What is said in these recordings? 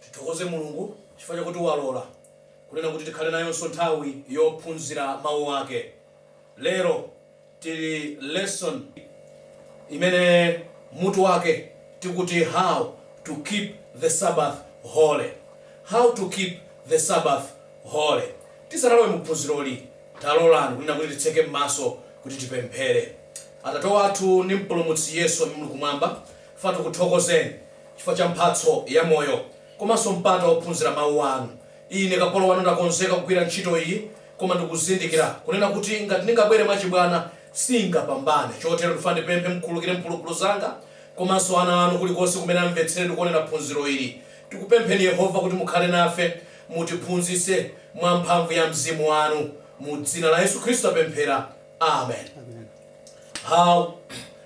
Tithokoze Mulungu chifukwa chakuti walola kunena kuti tikhale nayonso nthawi yophunzira Mawu ake lero. Tili lesson imene mutu wake ukuti how to keep the Sabbath holy. How to keep the Sabbath holy. Tisanalowe mu phunziroli taloleni kunena kuti titseke mmaso kuti tipemphere. Atate wathu ndi mpulumutsi Yesu amene muli kumwamba, ife tikuthokozeni chifukwa cha mphatso ya moyo komanso mpata ophunzira mau anu. Ine kapolo wanu ndakonzeka kugwira ntchito iyi Koma ndikuzindikira, kunena kuti, ngati ndingabwere mwachibwana, singapambane. Chotero ndifuna ndipemphe mukhululukire mphulupulu zanga, komanso ana anu kulikonse kumene amvetsere ndi kuonera phunziro ili. Tikupempheni, Yehova, kuti mukhale nafe. Mutiphunzitse mwa mphamvu ya mzimu wanu. Mu dzina la Yesu Khristu tapemphera. Amen. How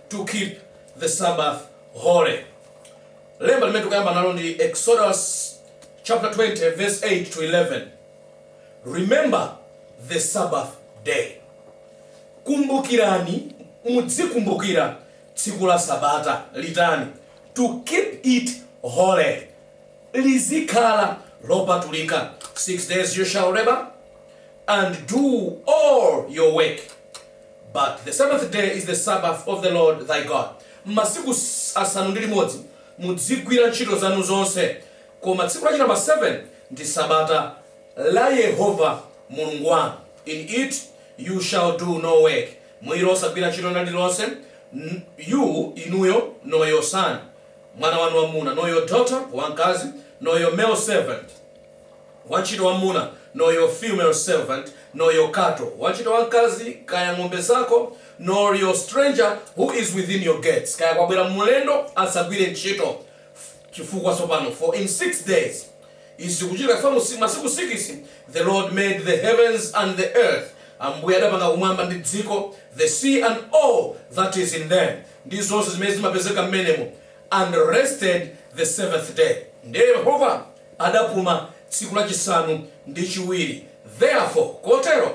to keep the Sabbath holy. Lemba limene tikuyamba nalo ndi Exodus chapter 20 verse 8 to 11. Remember the Sabbath day. Kumbukirani, mudzikumbukira, tsiku la Sabata, litani? to keep it holy. Lizikhala lopatulika. Six days you shall labor and do all your work. But the seventh day is the Sabbath of the Lord thy God. Masiku asanu ndi limodzi mudzigwira ntchito zanu zonse, Koma tsiku lachinambala 7 ndi Sabata la Yehova Mulungu wanu, in it you shall do no work, mu ilo osagwira nchito ina iliyonse, you inuyo, nor your son, mwana wanu wamwmuna, nor your daughter, wamkazi, nor your male servant, wanchito wamwmuna, nor your female servant, nor your cattle, wanchito wamkazi, kaya ng'ombe zako, nor your stranger who is within your gates, kaya kwabwera mlendo asagwire nchito, Chifukwa tsopano, for in six days, izi zikuchitika chifukwa mu masiku sikisi, the Lord made the heavens and the earth, Ambuye adapanga kumwamba ndi dziko, the sea and all that is in them, ndi zonse zimene zimapezeka m'menemo, and rested the seventh day. Ndi Yehova adapuma tsiku lachisanu ndi chiwiri. Therefore, kotero,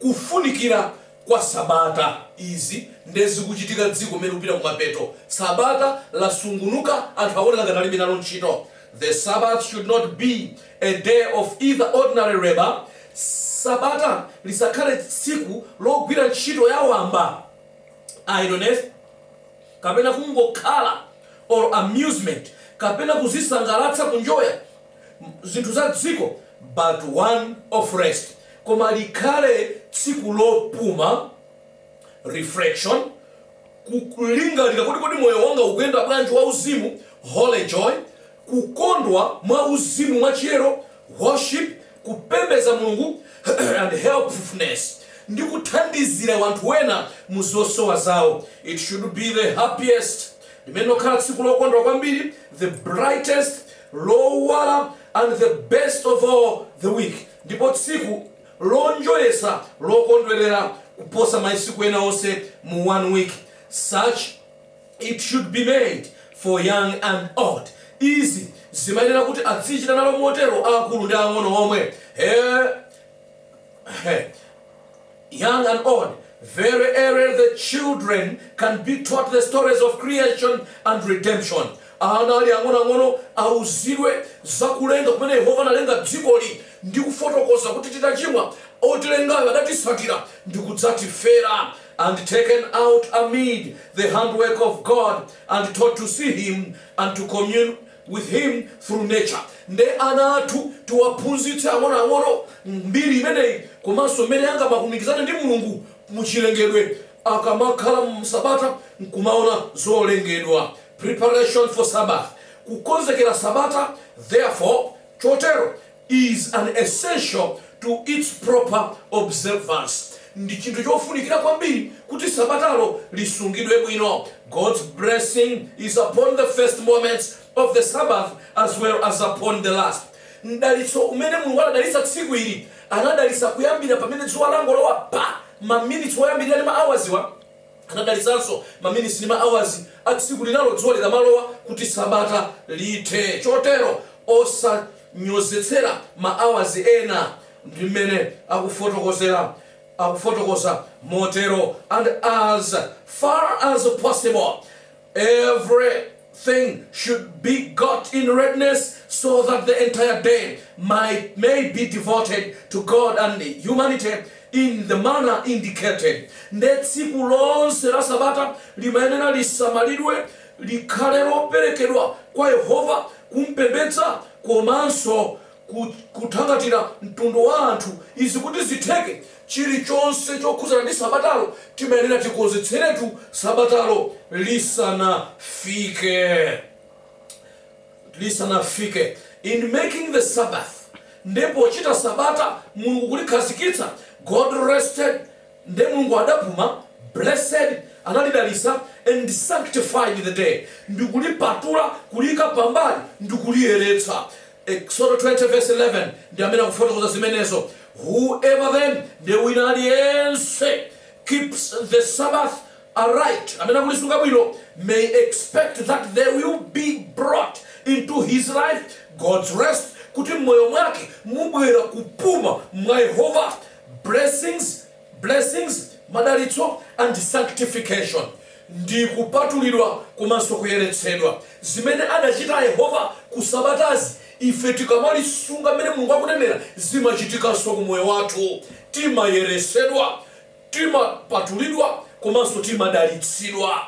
Kufunikira kwa Sabata. Izi nde zikuchitika dziko mmene likupita kumapeto. Sabata lasungunuka anthu akuoneka ngati alibe nalo ntchito. The Sabbath should not be a day of either ordinary labour, Sabata lisakhale tsiku logwira ntchito ya wamba, idleness, kapena kungokhala or amusement kapena kuzisangalatsa, kunjoya. zinthu za dziko but one of rest koma likhale tsiku lopuma, reflection, kulingalira kuti kodi moyo wanga ukuyenda bwanji wa uzimu, holy joy, kukondwa mwa uzimu mwa chiyero, worship, kupembeza Mulungu and helpfulness ndi kuthandizira wanthu wena mu zosowa zawo. It should be the happiest limene lokhala tsiku lokondwa kwambiri, the brightest lowala and the best of all the week ndipo tsiku lonjoyetsa lokondwelera kuposa masiku ena onse mu one week such it should be made for young and old izi zimayenera kuti adzichita nalo motero aakulu ndi ang'ono omwe he, he. Young and old, very early the children can be taught the stories of creation and redemption. Ana ali ang'onoang'ono auzidwe za kulenga kumene Yehova analenga dzikoli ndi kufotokoza kuti titachimwa otilengayo adatisatira ndi kudzatifera and taken out amid the handiwork of God and taught to see him and to commune with Him through nature. Nde ana athu tiwaphunzitse ang'onoang'ono mbiri imeneyi komanso mmene angamalumikizirane ndi Mulungu mu chilengedwe akamakhala m'sabata nkumaona zolengedwa. Preparation for Sabbath. Kukonzekera Sabata, Therefore, chotero, is an essential to its proper observance, Ndi chinthu chofunikira kwambiri kuti sabatalo lisungidwe bwino, God's blessing is upon the first moments of the Sabbath as well as upon the last, Mdalitso umene Mulungu anadalitsa tsiku ili, anadalitsa kuyambira pamene dzuwa langolowa pa maminitsi oyambirira ndi ma hours. Anadalitsanso maminitsi ndi ma hours a tsiku linalo dzuwa likamalowa, kuti sabata lithe. Chotero osanyozetsera ma hours ena, ndi mmene akufotokoza motero, and as far as possible, Everything should be got in readiness so that the entire day may be devoted to God and humanity in the manner indicated. Nde tsiku lonse la sabata limayenera lisamalidwe likhale loperekedwa kwa Yehova kumpembedza komanso ku, kuthangatira mtundu wa anthu. Izi kuti zitheke, chirichonse chokhudzana ndi Sabatalo timayenera tikonzekeretu Sabatalo lisanafike. In making the Sabbath, nde pochita Sabata, Mulungu kulikhazikitsa, God rested, nde Mulungu adapuma, blessed, analidalitsa, and sanctified the day, ndikulipatula, kuliika pambali, ndikuliyeretsa. Eksodo 20 vesi 11 ndi amene akufotokoza zimenezo, Whoever then, ndiye wina aliyense, keeps the Sabbath aright, amene akulisunga bwino, may expect that there will be brought into his life God's rest, kuti m'moyo mwake mubwere kupuma mwa Yehova, blessings, Blessings, madalitso, and sanctification, ndi kupatulidwa komanso kuyeretsedwa, zimene adachita Yehova ku sabatazi, ife tikamalisunga mmene Mulungu akunenera, zimachitikanso ku moyo wathu. Timayeretsedwa, timapatulidwa komanso timadalitsidwa.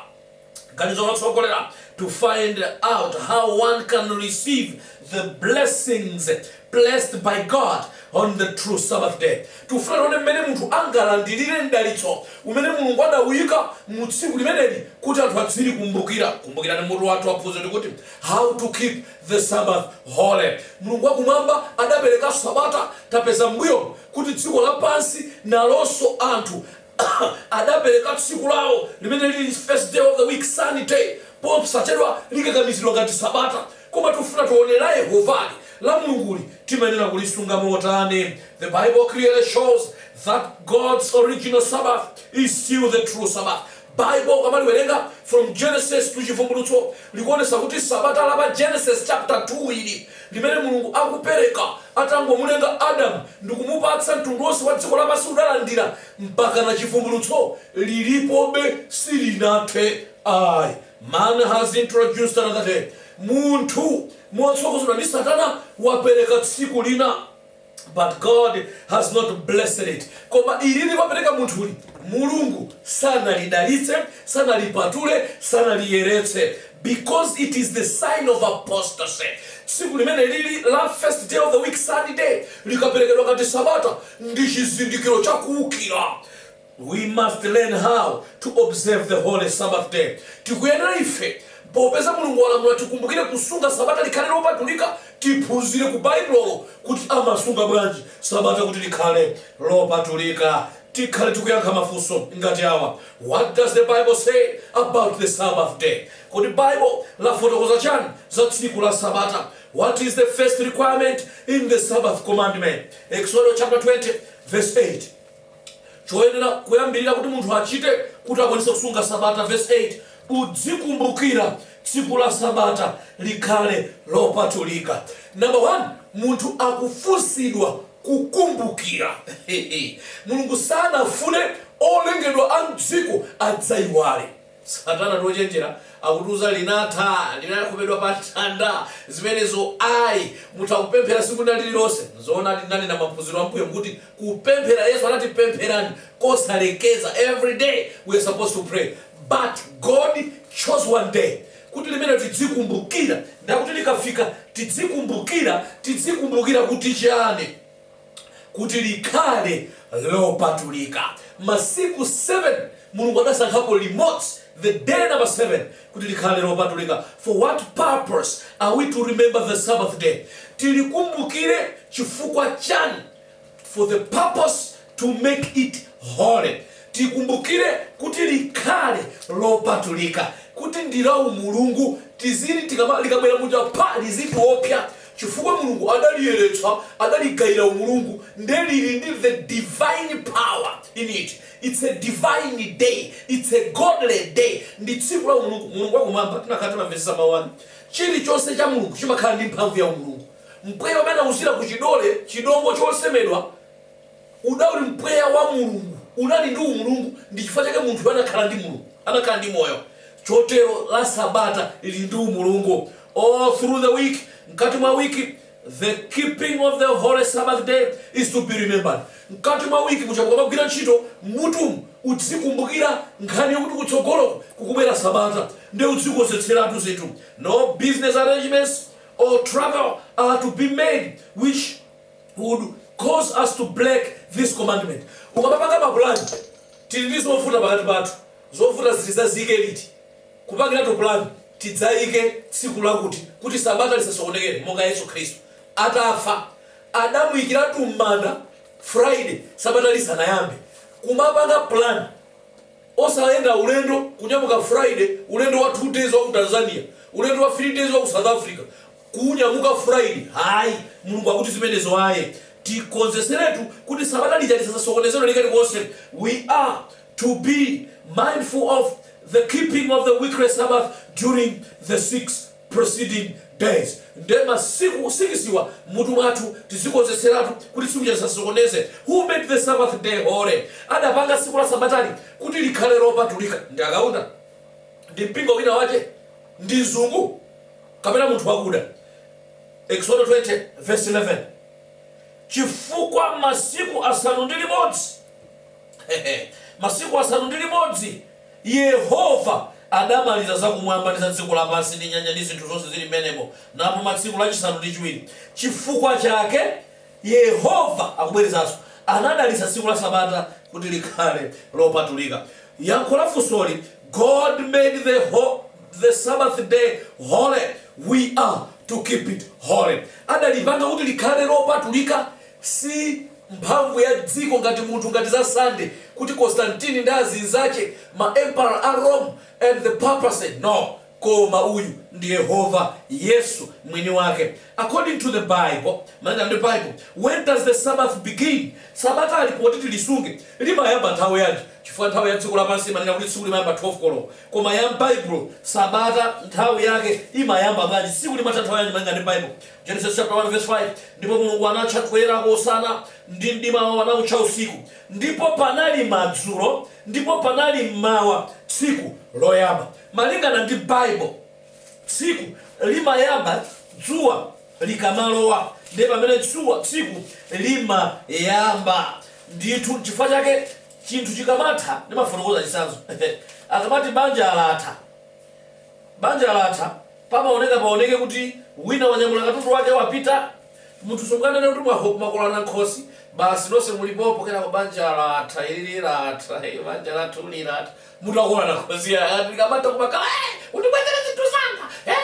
Ganizo lotsogolera, to find out how one can receive the blessings placed by God on the true Sabbath day. Tikufuna tione mmene munthu angalandirire mdalitso umene Mulungu adawuyika mu tsiku limeneli kuti anthu adzilikumbukira. Kumbukirani mutu wathu wa phunziro ndikuti How to Keep the Sabbath Holy. Mulungu wakumwamba adapereka Sabata. Tapeza m'mbuyomu kuti dziko lapansi nalonso anthu adapereka tsiku lawo limene lili first day of the week, Sunday, posachedwa likakamizidwa ngati sabata. Koma tikufuna tione la Yehovali, la Mulunguli, timayenera kulisunga motani? The Bible clearly shows that God's original Sabbath is still the true Sabbath. Bible ukamaliwerenga from Genesis to Chivumbulutso likuonesa kuti sabata la pa Genesis chapter 2 ili limene Mulungu akupereka atangomulenga Adam ndikumupatsa mtundu onse wa dziko lapansi udalandira mpakana chivumbulutso lilipobe silinathe ai Man has introduced another day, munthu motsogozedwa ndi satana wapereka tsiku lina. but God has not blessed it koma ilili wapereka munthuli mulungu sanalidalitse sanalipatule sanaliyeretse because it is the sign of apostasy tsiku limene lili la first day of the week sunday likaperekedwa ngati sabata ndi chizindikiro chakuukira We must learn how to observe the holy Sabbath day, Tikuyenera ife, popeza Mulungu walamula tikumbukire kusunga sabata likhale lopatulika, tiphunzire ku Baibulolo kuti amasunga bwanji sabata kuti likhale lopatulika. Tikhale tikuyankha mafunso ngati awa, What does the Bible say about the Sabbath day? Kodi Bible lafotokoza chani za tsiku la sabata? What is the first requirement in the Sabbath commandment? Eksodo chapter 20 verse 8. Choyenera choyambirira kuti munthu achite kuti akwanitse kusunga Sabata, vesi 8, udzikumbukira tsiku la Sabata likhale lopatulika. Namba 1, munthu akufunsidwa kukumbukira. Mulungu sanafune olengedwa a mdziko adzaiwale. Satana ndi ochenjera akutiuza linatha linakhomedwa pa mtanda zimenezo ayi mutha kupemphera siku linalililonse nzoonadi ndinanena maphunziro ambuyomu kuti kupemphera yesu anati pempherani kosalekeza every day we are supposed to pray but God chose one day kuti limenelo tidzikumbukira ndakuti likafika tidzikumbukira tidzikumbukira kuti chani? kuti likhale lopatulika. Masiku 7, Mulungu adasankhapo limodzi, the day number 7, kuti likhale lopatulika. For what purpose are we to remember the Sabbath day? Tilikumbukire chifukwa chani? For the purpose to make it holy. Tikumbukire kuti likhale lopatulika, kuti ndi la umulungu, tizilitikama, likabwera muja pa lizitiopsa, chifukwa Mulungu adaliyeretsa, adaligaira umulungu, nde liri ndi the divine power in it, its a divine day, its a godly day, ndi tsiku la umulungu, Mulungu wa Kumwamba, tinakakhala timamvetsetsa mawu anu, chirichonse cha Mulungu chimakhala ndi mphamvu ya umulungu, mpweya umene anauzira ku chidole, chidongo chosemedwa, Unali mpweya wa Mulungu, unali ndi umulungu. Ndi chifukwa chake munthuyo anakhala ndi moyo. Chotero la Sabata lili ndi umulungu. All through the week, mkati mwa wiki, the keeping of the holy Sabbath day is to be remembered. Mkati mwa wiki muja mukamagwira ntchito, m'mutumu udzikumbukira nkhani yakuti kutsogoloku kukubwera Sabata, nde udzikonzetseratu zinthu. No business arrangements or travel are to be made which would cause us to break this commandment ukamapanga mapulani tili ndi zovuta pakati pathu zovuta ziti tidzayike liti kupangiratu pulani tidzayike tsiku lakuti kuti sabata lisasokonekere monga yesu khristu atafa adamuyikiratu m'manda friday sabata lisanayambe kumapanga pulani osayenda ulendo kunyamuka friday ulendo wa 2 days wa ku tanzania ulendo wa 3 days wa ku south africa Kunyamuka friday ayi mulungu akuti zimenezo ayi tikonzetseretu kuti sabata lija lisazasokonezedwe ndi kalikonse we are to be mindful of the keeping of the weekly sabbath during the 6 preceding days nde masiku sikisiwa mmutu mwathu tizikonzetseratu kuti tsiku lija lisazasokonezeke who made the sabbath day holy adapanga tsiku la sabatali kuti likhale lopatulika ndi akaunda? ndi mpingo winawake? ndi mzungu? kapena munthu wakuda, Eksodo 20 vesi 11 chifukwa masiku asanu ndi limodzi masiku asanu ndi limodzi yehova adamaliza zakumwamba ndi za dziko lapansi ndi nyanja ndi zinthu zonse zili mmenemo napuma tsiku lachisanu ndi chiwiri chifukwa chake Yehova akubwerezanso, anadalitsa tsiku la Sabata kuti likhale lopatulika. Yankho la funsoli, God made the Sabbath day holy, we are to keep it holy. Adalipanga kuti likhale lopatulika si mphamvu ya dziko ngati munthu ngati za Sunday kuti Constantine ndi azinzache ma emperor a Rome and the papacy no Koma uyu ndi Yehova, Yesu Mwiniwake. According to the Bible, Malingana ndi Baibulo, when does the Sabbath begin? Sabata lopoti tilisunge limayamba nthawi yanji? Chifukwa nthawi ya dziko lapansi imanena kuti tsiku limayamba 12 koloko. Koma ya m'Baibulo, Sabata nthawi yake imayamba bwanji? Tsiku limatha nthawi yanji malinga ndi Baibulo? Genesis chapter 1 verse 5, Ndipo Mulungu anatcha kuyerako Usana, ndi mdimawo anautcha Usiku. Ndipo panali madzulo, ndipo panali m'mawa, tsiku loyamba. Malingana ndi Bible, tsiku limayamba dzuwa likamalowa ndiye pamene dzuwa tsiku limayamba ndithu nchifukwa chake chinthu chikamatha ndimafotokoza chitsanzo akamati banja latha banja latha pamaoneka paoneke kuti wina wanyamula katundu wake wapita munthu sunganene kuti mwango- mwangotolana nkhosi basi nonse muli pompo kenako banja latha ayi lili latha eh, banja lathu lilatha Mutu wako unanakuzia hadi kama toka kama eh unibwezera zintu zanga. Eh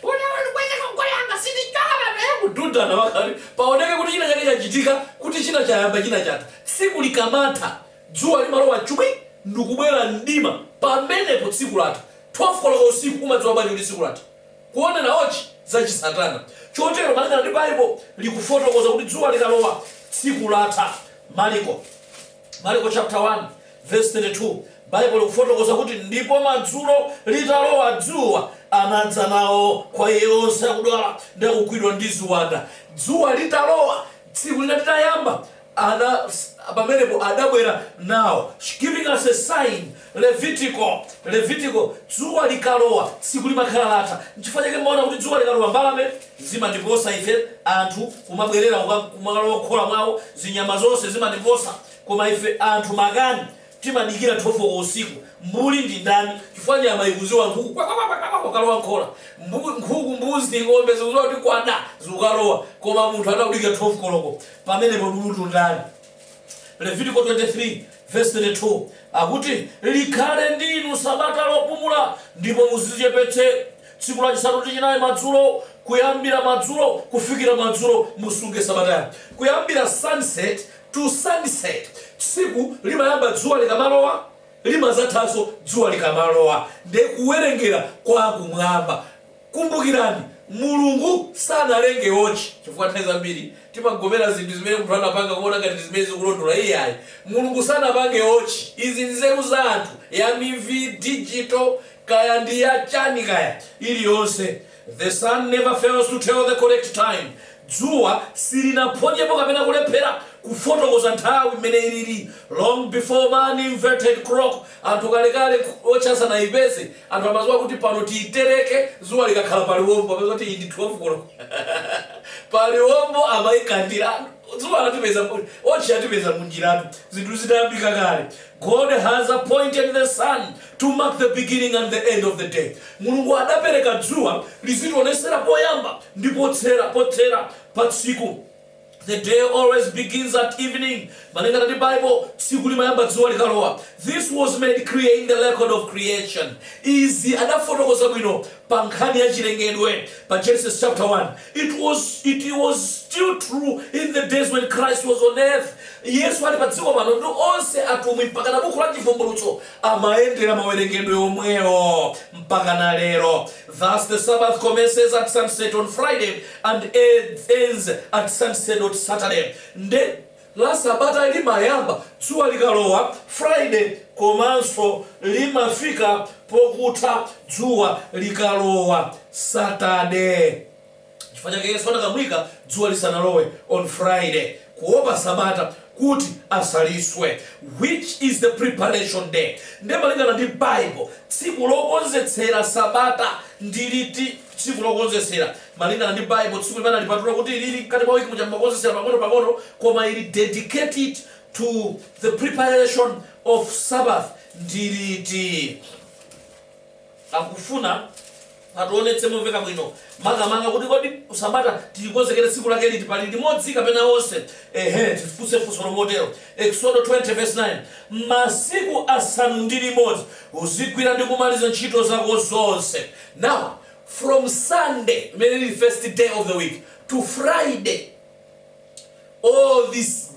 unataka unibwezera kwa kwa yanga sidi kama na hebu duda na wakati. Paoneke kuti china chake chachitika kuti china chayamba china chatha. Tsiku likamatha dzuwa limalowa chubwi ndikubwera mdima pamenepo tsiku latha 12 koloko usiku umadziwa bwanji kuti tsiku latha kuona na wotchi zachisatana chotero malingana ndi Baibulo likufotokoza kuti dzuwa likalowa tsiku latha maliko Marko chaputala 1 vesi 32 Baibulo likufotokoza kuti, Ndipo madzulo, litalowa dzuwa, anadza nawo kwa Iye onse akudwala ndi akugwidwa ndi ziwanda. Dzuwa litalowa, tsiku lina litayamba, pamenepo adabwera nawo, giving us a sign Levitiko, Levitiko, dzuwa likalowa tsiku limakhala latha. Nchifukwa chake mumaona kuti dzuwa likalowa mbalame zimatiposa ife anthu kumabwerera kuka, kumakalowa mkhola mwawo, zinyama zonse zimatiposa. Koma ife anthu makani timadikira 12 koloko usiku. Mbuli ndi ndani? Chifukwa nyama ikudziwa nkhuku kwa kwa kwa kwa kwa kwakalowa mkhola. Mbu, nkhuku, mbuzi, ng'ombe zikudziwa kuti kwada zikukalowa. Koma munthu akudikira 12 koloko pamenepo lulutu ndani? Levitiko 23 vesi 32 akuti, Likhale ndi inu sabata lopumula, ndipo muzichepetse, tsiku lachisanu ndi chinayi madzulo, kuyambira madzulo kufikira madzulo musunge sabata yanu. Kuyambira sunset to sunset, tsiku limayamba dzuwa likamalowa, limadzathanso dzuwa likamalowa, ndiye kuwerengera kwa kumwamba. Kumbukirani, Mulungu sanalenge wotchi, chifukwa nthawi zambiri timagomera zinthu zimene munthu anapanga kumaona ngati ndi zimene zili zolondola. Iyayi. Mulungu sanapange wotchi. Izi ndi nzeru za anthu, ya mivi, digital, kaya ndi ya chani kaya, iliyonse. The sun never fails to tell the correct time. Dzuwa silinaphonyepo kapena kulephera kufotokoza nthawi mmene ilili. Long before man invented clock, anthu kalekale wotchi asanaipeze, anthu amadziwa kuti pano tiitereke dzuwa likakhala paliwombo, amadziwa kuti iyi ndi 12 koloko. Paliwombo amaikandira. Dzuwa latipeza, wotchi yatipeza munjiratu, zinthu zitayambika kale. God has appointed the sun to mark the beginning and the end of the day, Mulungu adapereka dzuwa lizitiwonetsera poyamba ndi potsera, pothera, pa tsiku. The day always begins at evening, Malingana ndi Bible, tsiku limayamba dzuwa likalowa. This was made clear in the record of creation, Izi adafotokoza bwino pa nkhani ya chilengedwe pa Genesis chapter 1. It was, it was still true in the days when Christ was on earth. Yesu ali pa dziko pano ndi onse atumwi mpaka na buku la chivumbulutso amayendera mawerengedwe omwewo mpaka na lero. Thus the Sabbath commences at sunset on Friday and ends at sunset on Saturday. Nde la sabata limayamba dzuwa likalowa friday komanso limafika pokutha dzuwa likalowa saturday. Chifukwa chake Yesu anakamuyika dzuwa lisanalowe on friday kuopa sabata kuti asaliswe which is the preparation day. Nde malingana ndi bible tsiku lokonzetsera sabata ndi liti? Tsiku lokonzetsera. Malingana ndi Bible, tsiku limene analipatula kuti liri mkati mwa week muja mmakonzetsera pang'ono pang'ono koma ili dedicated to the preparation of Sabbath ndi liti? Akufuna ationetse momveka bwino makamaka kuti kodi Sabata tilikonzekere tsiku lake liti? Pali limodzi kapena onse? Ehe, tifunse funsolo motero. Eksodo 20 verse 9. Masiku asanu ndi limodzi uzigwira ndi kumaliza ntchito zako zonse. Now from Sunday limene lili first day of the week to Friday all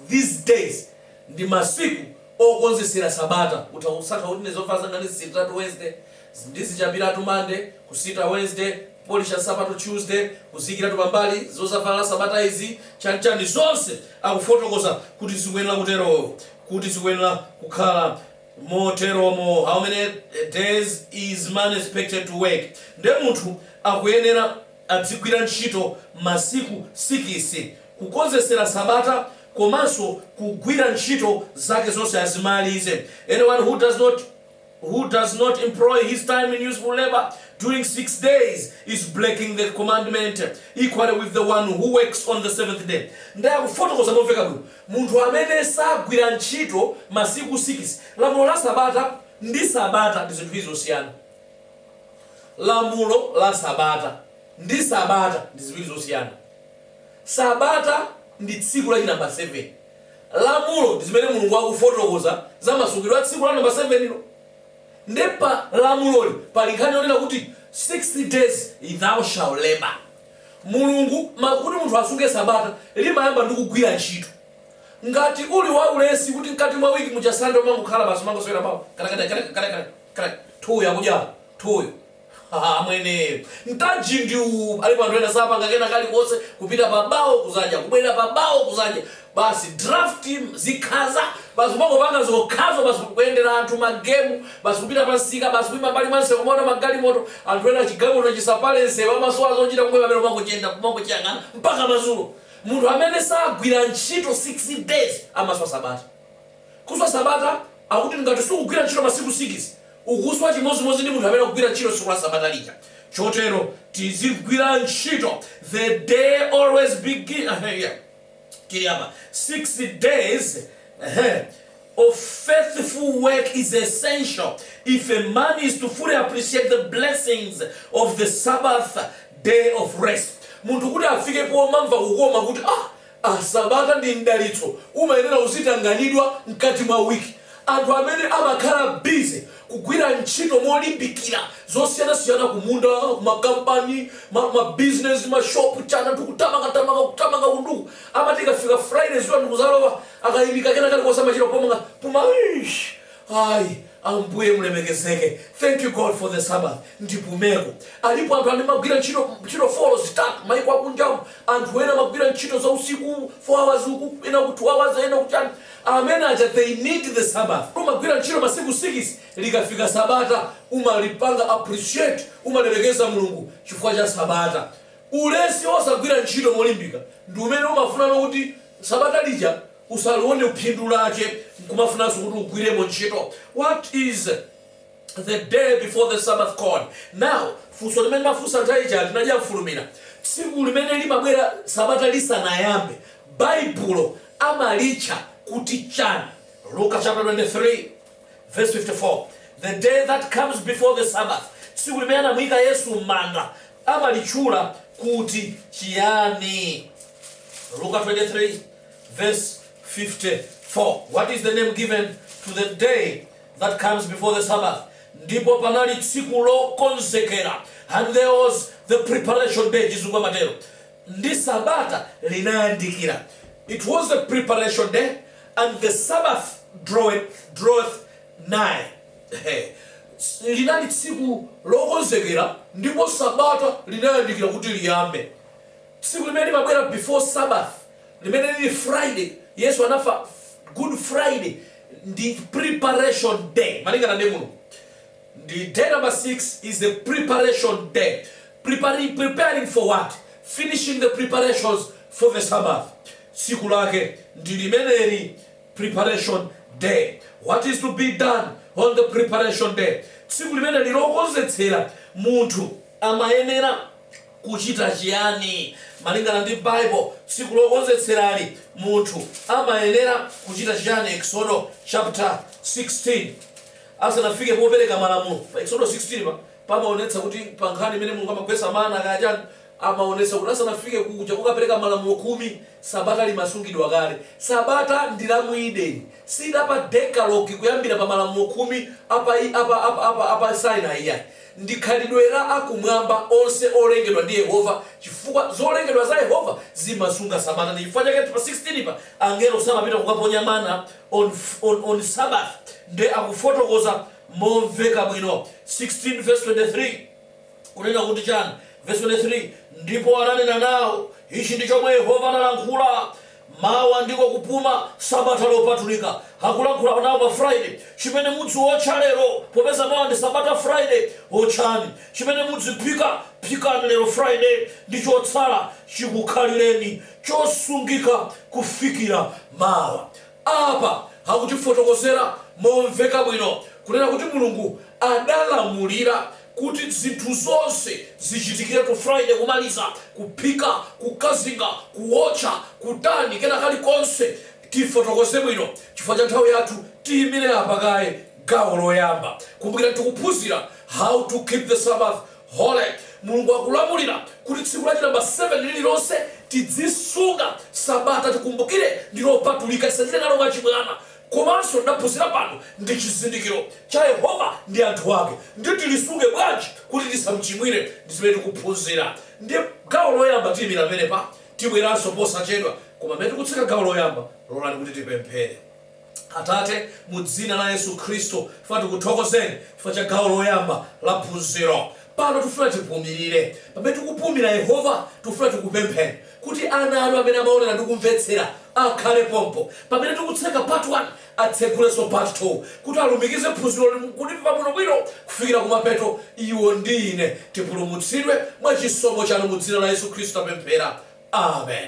these days ndi masiku okonzetsera sabata utha kusankha kuti ine zovala zanga ndizisitatu Wednesday ndizichapiratu Monday kusita Wednesday kupolisha nsapato Tuesday kuziikiratu pambali zozavala sabata izi chanchani zonse akufotokoza kuti zikuyenera kutero kuti zikuyenera kukhala Moteromo how many days is man expected to work? Nde munthu akuyenera adzigwira ntchito masiku sikisi kukonzekera sabata komanso kugwira ntchito zake zonse azimalize Anyone who does not who does not employ his time in useful labour during six days is breaking the commandment equally with the one who works on the seventh day Nde akufotokoza momveka bwino Munthu amene sagwira ntchito masiku 6. Lamulo la Sabata ndi Sabata ndi zinthu ziwiri zosiyana. Lamulo la Sabata ndi Sabata ndi ziwiri zosiyana. Sabata ndi tsiku la chinamba 7. Lamulo ndi zimene Mulungu akufotokoza za masungidwe a tsiku la namba 7 lo. Nde pa lamuloli pali nkhani yonena kuti 6 days thou shall labour. Mulungu, ma, kuti munthu asunge sabata, limayamba ndi kugwira ntchito. Ngati uli waulesi kuti mkati mwa week muja Sunday umangokhala basi umangosewera bawo, kada kada kada kada kada kada, thuuyo akudya, thuuyo. Haha amwene, mtaji ndi uwu, alipo anthu ena sapanga kena kalikonse kupita pa bawo kudzadya, kubwerera pa bawo kudzadya, basi draft zikhaza basi kumangopanga zokhazo basi kuyendera anthu ma game basi kupita pa nsika basi kuima mbali mwa nsewu kumaona magalimoto anthu ena chigamuno chisapale nsewu amasowa zochita kumwe pamene umangochiyenda kumangochiyang'ana mpaka madzulo munthu amene sagwira ntchito 6 days amaswa sabata kuswa sabata akuti ngati sukugwira ntchito masiku 6 ukuswa chimodzimodzi ndi munthu amene akugwira ntchito tsiku la sabata lija chotero tizigwira ntchito the day always begin yeah. tili apa 6 days ehe of faithful work is essential if a man is to fully appreciate the blessings of the sabbath day of rest munthu kuti afike pomamva kukoma kuti ah ah sabata ndi mdalitso umayenera uzitanganidwa mkati mwa wiki Anthu amene amakhala busy kugwira ntchito molimbikira zosiyanasiyana kumunda, kuma company, ma ma business, ma shop, chani anthu kutamanga tamanga kutamanga uku ndi uku amati ikafika Friday dzuwa ndikudzalowa akaimika kena kalikonse amachita kupumanso puma eish ai Ambuye mulemekezeke thank you God for the Sabbath ndipumeko. Alipo anthu amene amagwira ntchito ntchito folo zitatu maiko akunjamu anthu ena amagwira ntchito zausiku 4 hours uku ena uku 2 hours ena uku chani Amene aja they need the sabbath umagwira ntchito masiku sikisi likafika sabata umalipanga appreciate umalemekeza Mulungu chifukwa cha sabata. Ulesi osagwira ntchito molimbika ndi umene umafunanso kuti sabata lija usalione phindu lake nkumafunanso kuti ugwiremo ntchito what is the day before the Sabbath called. Now, funso limene mafunsa nthawi ija anthu nadya mfulumira tsiku limene limabwera sabata lisanayambe baibulo amalitcha kuti chani luka chapter 23 verse 54 the day that comes before the sabbath tsiku limene anamuyika yesu m'manda amalitchula kuti chiyani Luka 23, verse 54. What is the name given to the day that comes before the Sabbath. Ndipo panali tsiku lokonzekera. And there was the preparation day, chizungu amatero. Ndi Sabata linayandikira. It was the preparation day and the Sabbath draweth, draweth nigh. Hey. Linali tsiku lokonzekera ndipo Sabata linayandikira kuti liyambe. Tsiku limene limabwera before Sabbath limene lili Friday, Yesu anafa Good Friday, ndi preparation day malingana ndi Mulungu. Ndi day number 6 is the preparation day. Preparing, preparing for what? Finishing the preparations for the Sabbath. Tsiku lake ndi limeneli preparation day. What is to be done on the preparation day? Tsiku limeneli lokonzetsera munthu amayenera Kucita ciani? Malingana ndi Bible, tsiku lokonzetserali munthu amayenera kucita ciani? Eksodo chapter 16, asanafike popereka malamulo. Pa Eksodo 16 pa, pamaonetsa kuti pa nkhani imene Mulungu amagwetsa mana kaya ciani, amaonetsa kuti asanafike kuja kukapereka malamulo khumi, Sabata limasungidwa kale. Sabata ndi la mu Edeni, si la pa Decalogue kuyambira pa malamulo khumi a pa, a pa, a pa, a pa, a pa Sinai iyayi. Ndi khalidwe la akumwamba onse olengedwa ndi Yehova chifukwa zolengedwa za Yehova zimasunga Sabata. Ndi chifukwa chake pa 16 pa angelo samapita kukaponya mana on on on Sabbath nde akufotokoza momveka bwino 16 vs 23 kunena kuti chani? Vs 23 Ndipo ananena nawo, Ichi ndi chomwe Yehova analankhula, Mawa ndiko kupuma, Sabata lopatulika. Akulankhula nawo pa Friday, Chimene mudziwotcha lero, popeza mawa ndi Sabata Friday, wotchani. Chimene mudziphika, phikani lero Friday, ndi chotsala chikukhalireni chosungika kufikira mawa. Apa akutifotokozera momveka bwino kunena kuti Mulungu adalamulira kuti zinthu zonse zichitiketu friday kumaliza kuphika kukazinga kuwotcha kutani kena kalikonse tifotokoze bwino chifukwa cha nthawi yathu tiyimire apa kaye gawo loyamba kumbukirani tikuphunzira how to keep the sabbath holy mulungu akulamulira kuti tsiku lachi namba 7 lililonse tidzisunga sabata tikumbukire ndilopatulika tisachite nalo mwachibwana Komanso tidaphunzira kuti ndi chizindikiro cha Yehova ndi anthu ake ndiye tilisunge bwanji kuti tisamchimwire ndi zimene tikuphunzira ndiye gawo loyamba tiyimira penepa tibweranso posachedwa koma pamene tikutseka gawo loyamba lolani kuti tipemphere. Atate mu dzina la Yesu Khristu tifuna tikuthokozeni chifukwa cha gawo loyamba la phunziro Pano tifuna tipumilile. Pamene tikupumila, Yehova, tifuna tikupempheni kuti ana anu amene amaonela ndi kumvetsela akhale pompo. Pamene tikutseka part 1, atsegulenso part 2 kuti alumikize phunziloli nkulimva bwino bwino kufikila kumapeto. Iwo ndi ine tipulumutsidwe mwa chisomo chanu mudzina la Yesu Khristu tapemphera. Amen.